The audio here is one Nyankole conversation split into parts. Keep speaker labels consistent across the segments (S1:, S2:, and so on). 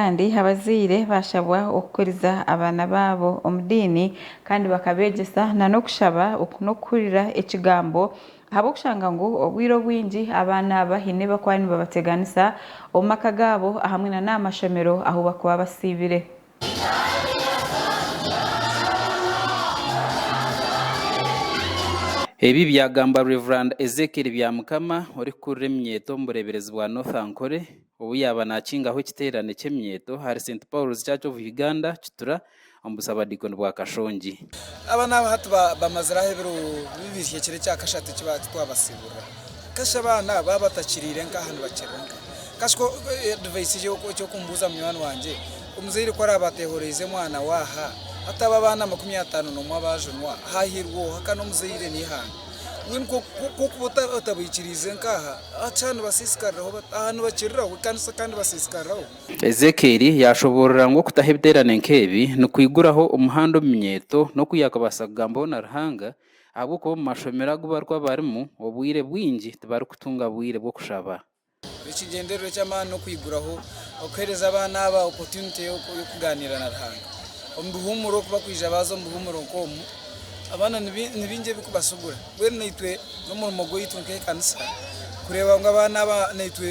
S1: Kandi abazaire baashabwa okukuriza abaana baabo omu diini kandi bakabeegyesa n'okushaba n'okuhurira ekigambo ahabw'okushanga ngu obwire obwingi abaana aba haine abarikuba nibabateganisa omu maka gaabo ahamwe n'aha mashomero ahu barikuba basiibire.
S2: Ebi byagambwa Rev. Ezekiel Byamukama orikukurira eminyeeto omu bureeberezi bwa North Ankole. Obu yaaba naakingaho ekiteerane ky'eminyeeto ahari St Paul's Church of Uganda, Kitura, omu busabadiikoni bwa Kashongi. Aba n'aba hati
S3: bamaziraho ebiro bibiri ekiro ekya kashatu eki baaba titwabasiiburira. Kasha abaana baaba batakiriire nka aha nibakirira nka. Kasha ku advice egi eky'okumbuuza munywani wangye, omuzaire ku araabe ateehoreize mwana we aha, hataaba abaana makumi ataano n'omwe abaajunwa, haahiirwa oha? Ka n'omuzaire n'eihanga. kwonka otabikiriize nk'aha hati nibasisikariraho bata? Aha nibakiriraho ekanisa kandi nibasisikariraho. Ezekieli
S2: yaashoboorora ngu okutaho ebiteerane nk'ebi nikwiguraho omuhanda omu minyeeto n'oku yaakabaasa kugambaho na Ruhanga, ahabw'okuba omu mashomero agu barikuba barimu, obwire bwingi tibarikutunga bwire bw'okushaba. Ekigyendererwa
S3: eky'amaani n'okwiguraho okuheereza abaana aba opotunite y'okugaaniira na Ruhanga omu bihuumuro. Ku bakwija baaza omu bihuumuro nk'omu, abaana ni baingi ebirikubasugura. Mbwenu naitwe n'omurimo gwaitu nk'ekanisa kureeba ngu abaana aba naitwe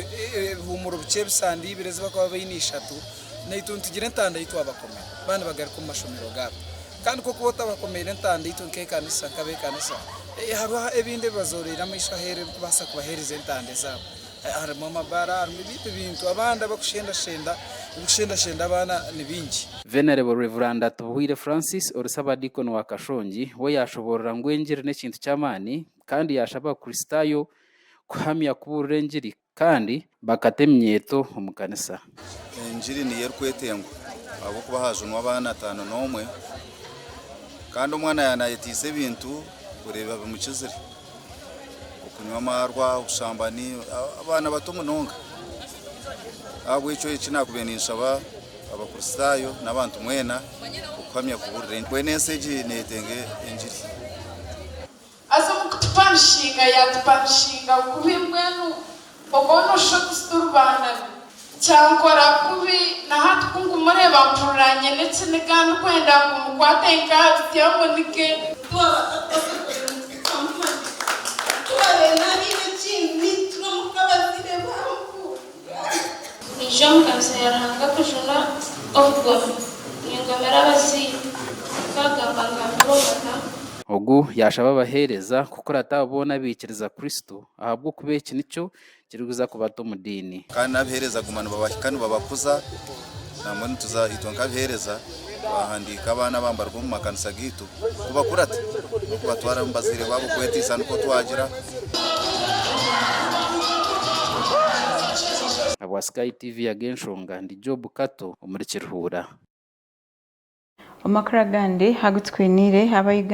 S3: ebihuumuro bikye ebisande ibiri ezibakuba baine ishatu naitwe nitugire entanda yitwabakomera baaba nibagaruka omu mashomero gaabo. Kandi kw'okuba otabakomeire entandaitwe nk'ekanisa, nk'ab'ekanisa, hariho ebindi ebi bazoroire amaisho aheeru ebikubaasa kubaheereza entanda ezaabo. Harimu amabaara, harimu ebindi ebintu abandi abakushendashenda, ebikushendashenda abaana ni bingi. Venerable Rev.
S2: Atubuhwire Francis ori Ssabadiikoni wa Kashongi we yaashoboorora ngu engiri n'ekintu ky'amaani kandi yaashaba Abakristaayo kuhamya kubuurira engiri. Kandi bakata eminyeeto omu kanisa. Engiri niyo
S4: erikwetengwa ahabw'okuba haajunwa abaana ataano n'omwe kandi omwana yaaba naayetaisa ebintu oreeba bimukizire, okunywa amaarwa, obushambani, abaana bato munonga. Ahabw'ekyo eki naakubaire ninshaba Abakristaayo n'abantu mwena okuhamya kubuurira. Mbwenu ensi egi neetenga engiri.
S5: Haza omu kutupanishinga yaatupanishinga bubi mbwenu obwo nooshusha oti tituri baana be. Kyankora kubi na hati ku nkumureeba mpurira nyine ekiniga ndikwenda ngu mukwate nk'abiti amunige. Twaba twakozire ngu tukamumanya, twaba nainemu ekindi,
S6: nainemu nk'abazaire be aho. Niija omu kanisa ya Ruhanga kujuna obugomi. Ningomera abazaire. Nkagamba ngambira omwana. Ogu
S2: yaashaba abaheereza kukurata abo boona abaikiriza Kristo, ahabw'okuba eki nikyo kirikuza kubata omu diini. Kandi n'abaheereza guma
S4: nibabahika nibabakuza. Nambwenu nituza ahaitwe nk'abiheereza twahandiika abaana abambarwa omu makanisa gaitu kubakura ti n'okubatwara omu bazaire baabo kwetiisa nikwo twagira.
S2: Habwa Sky TV ya Genshonga ndi Job Kato omuri Kiruhura.
S1: Omu makuru agandi
S2: agu
S1: tukwiniire, aba Uganda.